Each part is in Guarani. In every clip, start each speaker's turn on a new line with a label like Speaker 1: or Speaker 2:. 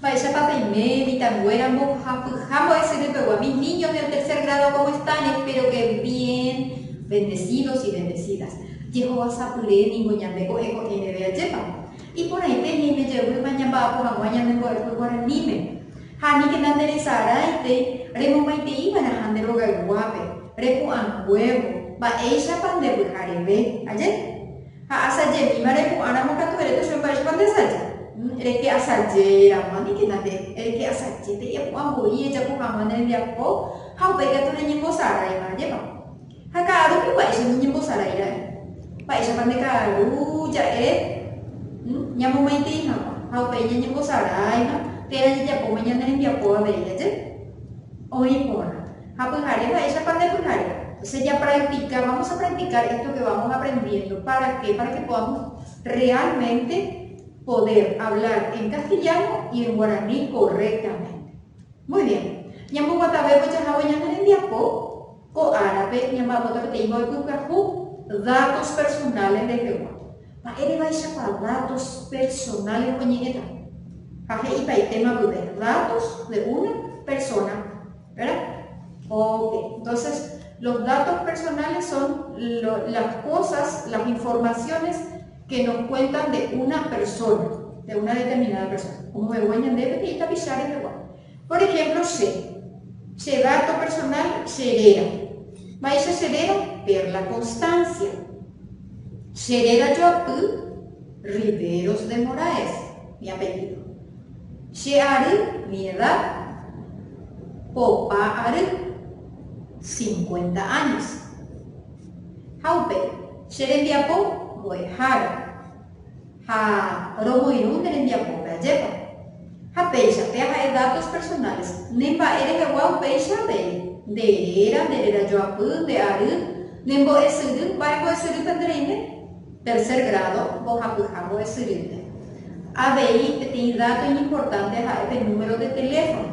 Speaker 1: Mba'éichapa peime mitãnguéra mbohapyha mbo'esyry pegua? Mis niños del tercer grado cómo están? Espero que bien, bendecidos y bendecidas. Jehovasapyre ningo ñande ko'ẽ ko'ẽ reve ajépa. Iporãite he'ime jeýma ñamba'apo hag̃ua ñane mbo'epy guaraníme. Ha ni heta nde resarãitei remomaitei va'erãha nde rogayguápe, repu'ãnguévo, mba'éichapa nde pyhareve. Aje. Ha asajemíva repu'ãramo katu ere tuicha mba'éichapa nde asaja. Reke asajéramo, ni heta nde reke asajépe epu'ã voi ejapo hag̃ua ne rembiapo ha upéi katu reñembosaráiva. Ajépa. Ha ka'aru piguáicha noñembosarái ra'e. Mba'éichapa nde ka'aru ja'e ñamomaitei hag̃ua ha upéi ñañembosaráiva térã jajapóma ñane rembiapo avei aje? Oĩ porã. Ha pyhare mba'éichapa nde pyhare. Entonces japractica, vamos a practicar esto que vamos aprendiendo. ¿Para qué? Para que podamos realmente poder hablar en castellano y en guaraní correctamente. Muy bien. Ñamboguatavévo jahávo ñane rembiapo. Ko árape ñamba'apóta peteĩ mboypypyahu datos personales rehegua. Mba'érevaichápa datos personales oñe'ẽta? Ha he'ipaitéma guive datos de una persona, vera? Ok, entonces los datos personales son las cosas, las informaciones que nos cuentan de una persona, de una determinada persona. Omove'úva ñandéve peteĩ tapicha rehegua. Por ehémplo che, che dato personál che réra. Mba'éicha che réra? Perla Constancia. Che réra joapy Riveros de Moraes, mi apellido. Che ary, mi edad, popa ary, cincuenta años. Ha upéi, che rembiapo mbo'ehára. ha romoirũ nde rembiapópe. Ajépa? Ha péicha, péa ha'e datos personales, ne mba'e rehegua upéicha avei, nde réra, nde réra joapy, nde ary, ne mbo'esyry, mba'e mbo'esyry pende reime? Tercer grado, mbohapyha mbo'esyrýpe. Avei peteĩ dato iñimportante ha'e pe número de teléfono,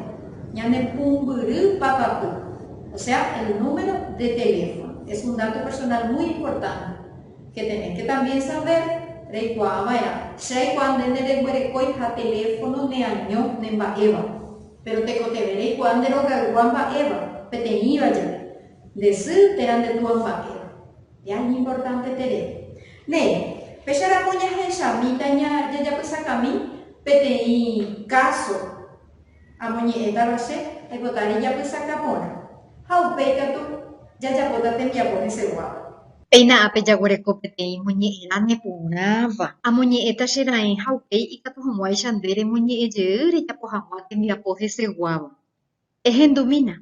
Speaker 1: ñane pumbyry papapy, o sea, el número de teléfono, es un dato personal muy importante. Che tenés que también saber, reikuaa va'erã. Che aikuaa nde nereguerekói ha teléfono neaño ne mba'éva. Péro tekotevẽ reikuaa nde rogaygua mba'éva, peteĩva jave. Nde sy térã nde túa mba'éva. Ya iñimportánte terere. Néi, péicha ramo ñahechamíta ña jajapysakami peteĩ káso. Amoñe'ẽtava che aipotari japysaka porã, ha upéi katu jajapóta tembiapo heseguáva. Péina ápe jaguereko peteĩ moñe'ẽrã neporãva. Amoñe'ẽta che raẽ ha upéi ikatu hag̃uáicha nde remoñe'ẽ jey rejapo hag̃ua tembiapo heseguáva. Ehendumína.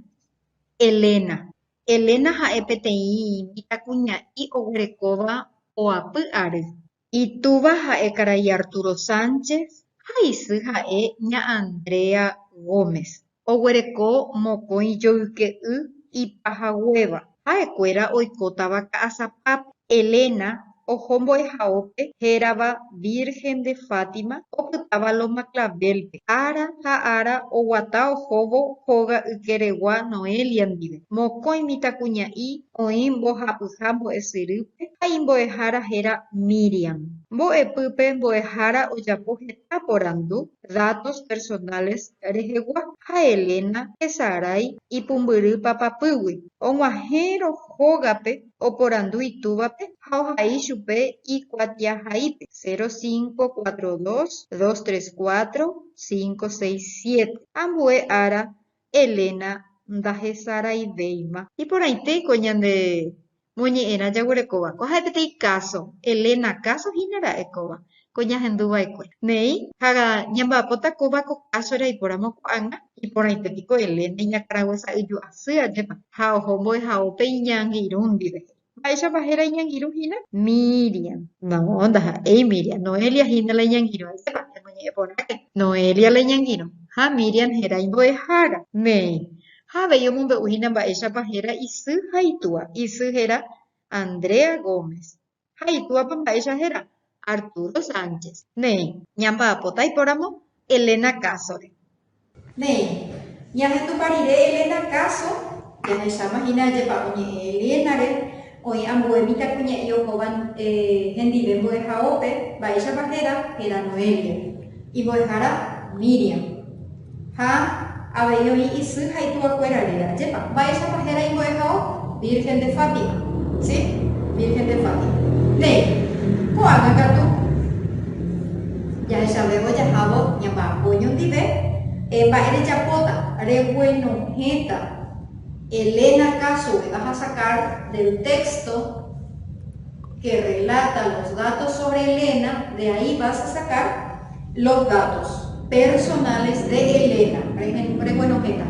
Speaker 1: Elena. Elena ha'e peteĩ mitãkuña'i oguerekóva oapy ary. Itúva ha'e karai Arturo Sánchez ha isy ha'e ña Andrea Gómez. Oguereko mokõi joyke'y ipahaguéva. Ha'ekuéra oikótava Ka'asapápe. Elena oho mbo'ehaópe hérava Virgen de Fátima opytáva Loma Clavel-pe. Ára ha ára oguata ohóvo hóga ykeregua Noelia ndive. Mokõi mitãkuña'i Oĩ mbohapyha mbo'esyrýpe ha imbo'ehára héra Miriam. Mbo'epýpe mbo'ehára ojapo heta porandu datos personales rehegua ha Elena hesarái ipumbyry papapýgui. Og̃uahẽrõ hógape oporandu itúvape ha ohai chupe ikuatiahaípe, 0542 234 567. Ambue ára Elena ndahesaraivéima. Iporãite ko ñande moñe'ẽrã jaguerekóva. Ko ha'e peteĩ káso. Elena káso hína ra'e kóva, ko ñahendu va'ekue. Néi, ha ñamba'apóta kóva ko káso eraipóramo ko'ág̃a. Iporãite piko Elena iñakãraguasa'yju asy ajépa ha oho mbo'ehaópe iñeangirũ ndive, he'i. Mba'éichapa héra iñangirũ hína? Míriam. Noõ, ndaha'éi Míriam. Noelia hína la iñangirũ. Ajépa, emoñe'ẽ porãke. Noelia la iñangirũ. Ha Míriam héra imbo'ehára. Néi. Ha avei omombe'u hína mba'éichapa héra isy ha itúa. Isy héra Andrea Gómez. Ha itúapa mba'éicha héra? Arturo Sánchez. Néi, ñamba'apóta aipóramo Elena káso-re. Néi, ñahendupa rire Elena káso, jahecháma hína ajepa'o ñe'ẽ Elena-re, oĩ ambue mitãkuña'i ohóva hendive mbo'ehaópe, mba'éichapa héra? Héra Noelia. Imbo'ehára, Míriam. Ha avei oĩ isy ha itúa kuéra rire. Ajépa. Mba'éichapa héra imbo'ehao? Virgen de Fátima. Sí, Virgen de Fátima. Néi, ko'ágã katu jahechavévo jahávo ñamba'apo ñondive, eh, mba'e rejapóta? Reguenohẽta Elena kásope, va ha sacar del texto, que relata los datos sobre Elena, de ahí vas a sacar los datos personales de Elena. Reguenohẽta.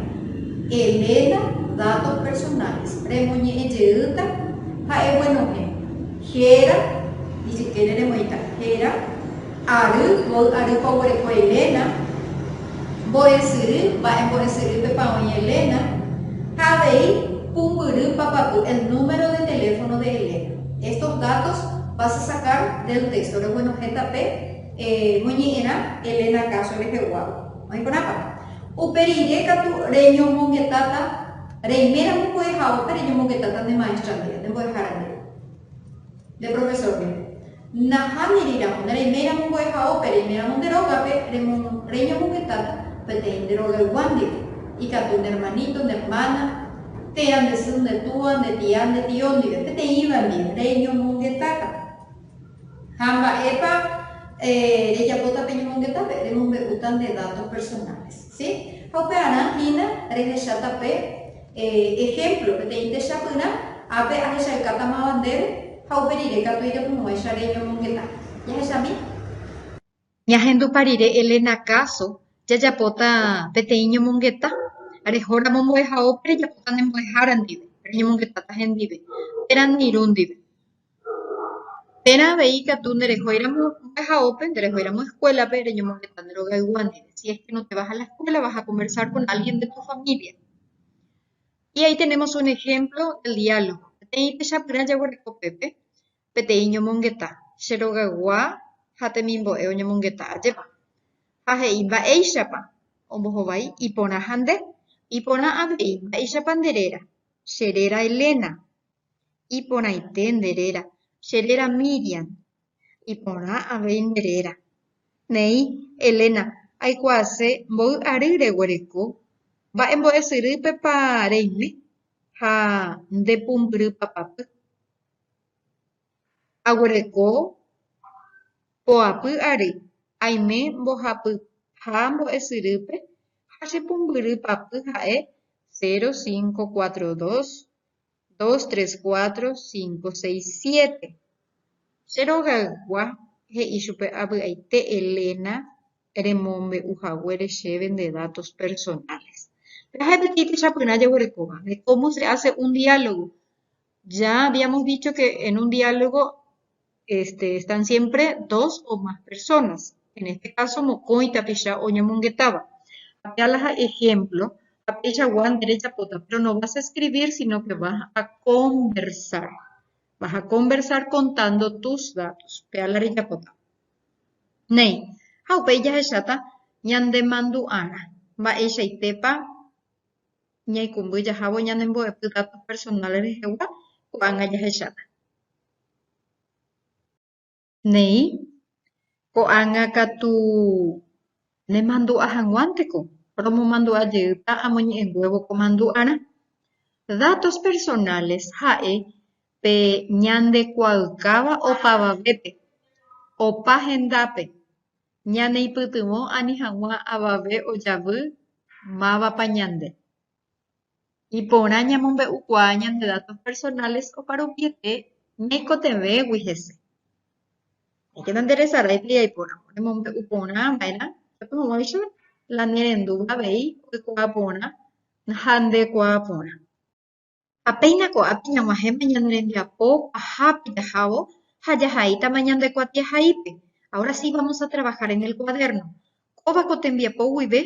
Speaker 1: Elena, datos personales. Remoñe'ẽ jeýta ha eguenohẽ. Héra, ijykére remoĩta. Héra. Ary, voi ary ko oguereko Elena. Mbo'esyry, mba'e mbo'esyry pe pa oĩ Elena. Ha avei, pumbyry papapy el número de teléfono de Elena. Estos datos vas a sacar del texto, reguenohẽta pe moñe'ẽrã Elena káso reheguáva. Oĩkorãpa? Upe rire katu reñomongetáta, reiméramo mbo'ehaópe reñomongetáta nde maestra ndive, nde mbo'ehára ndive, nde profesor ndive. Nahániramo, nereiméiramo mbo'ehao pe reiméramo nde rógape, reñomohetáta peteĩ nde rogaygua ndive, ikatu nde ermaníto, nde ermána, térã, nde sy, nde túa, nde tia, nde tio ndive, peteĩva ndive, reñomongetáta. Ha mba'épa rejapóta pe ñomongetápe? Remombe'úta nde datos personales, sí? Ha upearã hína rehecháta pe Ehémplo, peteĩ techapyrã ápe ahechaukáta máva ndéve ha upe rire katu iremohu'ãicha reñomongeta. Jahechami. Ñahendupa rire Elena káso, jajapóta peteĩ ñomongeta. Rehóramo mbo'ehaópe rejapóta ne mbo'ehára ndive, reñomongetáta hendive, térã ne irũ ndive. Térã avei ikatu nerehóiramo mba'ehao pe, nerehóiramo eskuélape reñomoheta nde rogaygua ndive, si es ke no te vas a la escuela vas a conversar con alguien de tu familia. Y ahí tenemos un ejemplo del diálogo. Peteĩ techapyrã jaguereko pépe, peteĩ ñomongeta, che rogaygua ha temimbo'e oñomongeta ajépa. Ha he'i mba'éichapa ombohovái iporã ha nde. Iporã avei, mba'éichapa nde réra. Che réra Elena, Iporãite nde réra, che réra Míriam. Iporã avei nde réra. Néi, Elena, aikuaase mboy ary reguereko. Mba'e mbo'esyrýpepa reime ha nde pumbyry papapy. Aguereko poapy ary, aime mbohapy ha mbo'esyrýpe ha che pumbyry papy ha'e 0542 dos, tres, cuatro, cinco, seis, siete. Che rogaygua, he'i chupe avy'aite Elena remombe'u haguére chéve nde datos personales. Pe'aha peteĩ techapyrã jaguerekóva, de cómo se hace un diálogo. Ya habíamos dicho que en un diálogo este, están siempre dos o más personas. En este caso, mokõi tapicha oñomongetáva. Apea la ejemplo, ha peichagua nderejapóta, pero no vas a escribir, sino que vas a conversar. Vas a conversar contando tus datos. Pea la rejapóta. Néi, ha upéi jahecháta ñandemandu'arã mba'eichaitépa ñaikũmby jahávo ñanembo'epy datos personales rehegua, ko'ág̃a jahecháta. Néi, ko'ág̃a katu nemandu'a hag̃uánteko romomandu'a jeýta amoñe'ẽnguévo ko mandu'arã. Datos personales ha'e pe ñande kuaa'ykáva opavavépe, opa hendápe, ñaneipytyvõ ani hag̃ua avave ojavy mávapa ñande. Iporã ñamombe'ukuaa ñande datos personales oparuviete ñaikotevẽgui hese. Ñaikenda nderesaráipe jaiporã remombe'u porã va'erã upépe hag̃uáicha la nerendúva avei oikuaa porã ha ndekuaa porã. Ha péina ko'ápe ñag̃uahẽma ñane rembiapo pahápe jahávo ha jahaítama ñande kuatiahaípe, ahora sí vamos a trabajar en el cuaderno. Kóva ko tembiapo guive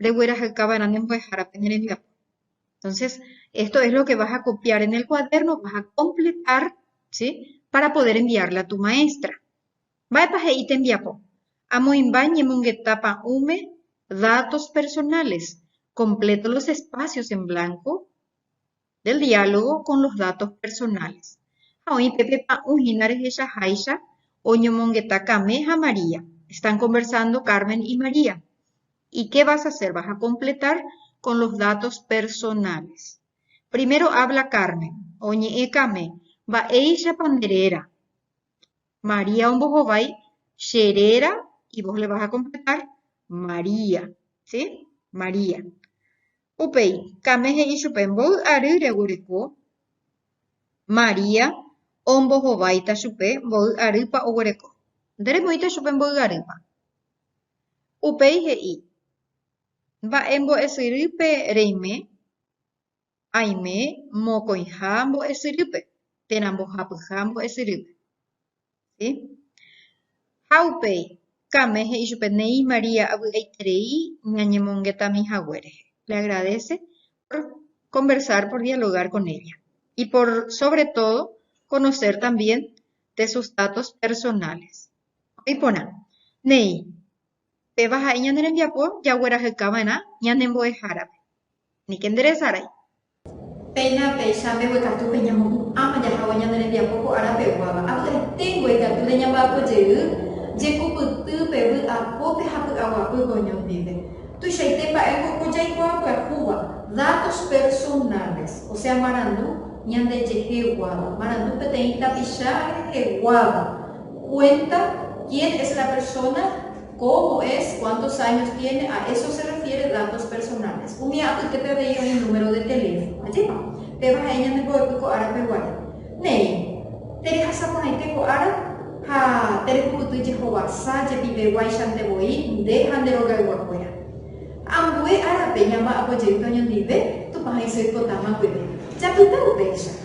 Speaker 1: reguerahykáva rã ne mbo'ehára pene rembiapo. Entonces, esto es lo que vas a copiar en el cuaderno, vas a completar, ¿sí? Para poder enviarle a tu maestra. Mba'épa he'i tembiapo? Amoĩmba ñemongeta pa'ũme datos personales, completo los espacios en blanco, del diálogo con los datos personales ha oĩ pe pepa'ũ hína rehechaháicha oñomongeta Kame ha María están conversando Carmen y María y qué vas a hacer? vas a completar con los datos personales primero habla Carmen oñe'ẽ Kame mba'éichapa nde réra? María ombohovái che réra y vos le vas a completar María, ¿sí? María. Upéi Kame he'i chupe, Mboy ary reguereko. María ombohováita chupe, Mboy arýpa oguereko. Nde remoĩta chupe mboy arýpa. Upéi he'i, Mba'e mbo'esyrýpe reime? Aime mokõiha mbo'esyrýpe térã mbohapyha mbo'esyrýpe. Sí. Ha upéi, Kame he'i chupe, Néi María, avy'aiterei ñañemongetami hague rehe. Le agradece por conversar, por dialogar con ella. Y por sobre todo, conocer también de sus datos personales. Oĩ porã, néi, Péva ha'e ñane rembiapo jagueraheka va'erã ñane mbo'ehárape. Aníke nde resarái. Péina péicha mbeguekatu pe ñamopu'ãma jahávo ñane rembiapo ko ára peguáva. Avy'aiténgo ikatu reñamba'apo jey jekupyty pe vy'apópe ha py'aguapy pe oñondive. Tuichaite mba'e ko ko jaikuaa pyahúva, datos personales, osea marandu ñandejeheguáva, marandu peteĩ tapicha reheguáva. kuénta kien es la persóna, kómo es, kuántos áños tiene, a eso se refiere datos personales. Umi apytépe avei oĩ número de teléfono. Ajépa? Péva ha'e ñande mbo'epy ko árape guare. Néi, terehasa porãite ko ára ha terepy'yty jehovasa jepiveguáichante voi nde ha nde rogayguakuéra. Ambue árape ñamba'apo jeýta oñondive, Tupã he'ise oipotáma guive. Japyta upéicha.